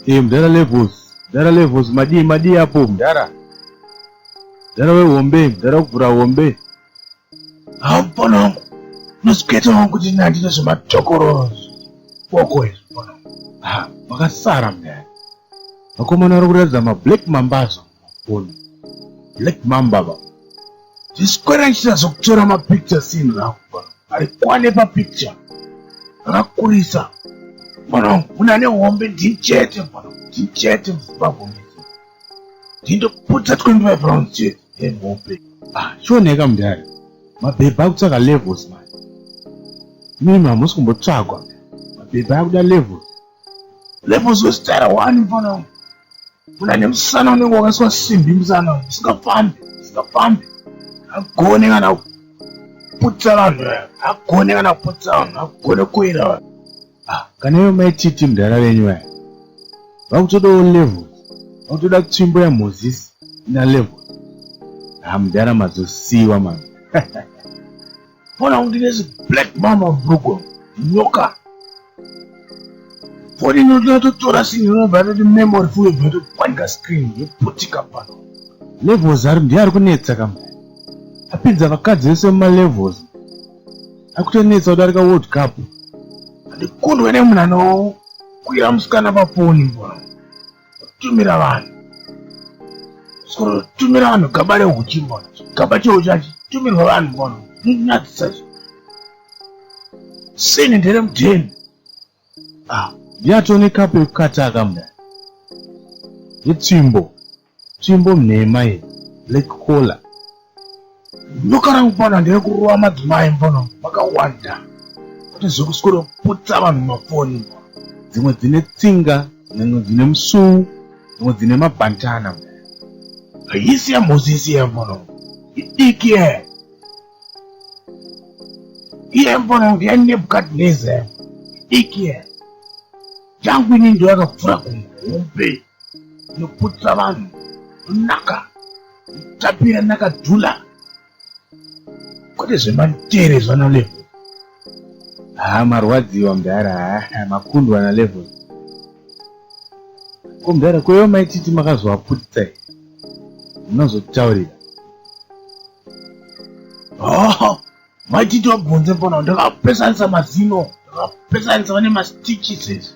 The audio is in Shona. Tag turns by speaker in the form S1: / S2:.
S1: Hey, eh, mdara levels mdara levels madii madii apo mdara mdara wehombe mdara kuvhura hombe
S2: haupona wangu unozikuita wangu kuti ina handina zvematokoro boko izvipona makasara
S1: mdara vakomana vari kuratidza mablack mambazo Ona. Black Mamba ba. Zviswera
S2: ichita zvekutora mapicture sini rako ba. Ari kwane papicture. Akakurisa. Mwana wangu kuna ne hombe ndichete mwana. Ndichete muzibabwa mwana. Ndindoputa 25 rounds chete. Hey, hombe. Ah, chioneka
S1: mudhara. Mabhebha akutsaka levels man. Mimi hamusi kumbotsvagwa. Mabhebha akuda levels. Levels wesitara wani
S2: mfana uyu. Kuna nemusana unenge wakaiswa simbi musana uyu. Usingafambi, usingafambi. Agone kana kuputsa vanhu vaya. Agone kana kuputsa vanhu, agone kuwira vanhu. Ah, kana iwe
S1: mai Titi mudhara venyu vaya. Vakutodawo levels. Vakutoda tsvimbo yaMoses ina levels. Ah, mudhara mazosiwa mama.
S2: Mwana undi nezi black mama brugo nyoka. Foni inototora sinhi inobva yatoti memory full yobva yatopwanyika screen yoputika pano. Levels ari
S1: ndiye ari kunetsa kama. Apinza vakadzi vese muma levels. Akutonetsa kudarika World Cup. Ndikundwe
S2: nemunhu anokwira musikana pafoni mbwa. tumira vanhu soro tumira vanhu gaba rehuchi mbona gaba cheho chachi tumirwa vanhu mbona nonyadzisa zvo sini ndere mudheni ah
S1: yatone kapo yekukataka mda yetsvimbo tsvimbo mnhema ye black collar
S2: Nyoka rangu pana ndiri kurova madzimai mbono vakawanda kuti zvekuswero putsa vanhu mafoni dzimwe dzine
S1: tsinga dzimwe dzine musuu dzimwe dzine mabhantana haisi
S2: yamhozisi yembono idiki ye iyembono ndiyanebukadneze idiki ye jangu ini ndoyakapfura kumhombe inoputsa vanhu naka tapira nakadhula kwete zvematere zvana level haa marwadziwa
S1: mdara haa makundwa na level ko mdara kweyo maititi makazovaputisa i munozotaurira
S2: oh, maititi wabvunze mbona ndakapesanisa mazino ndakapesanisa vane mastitches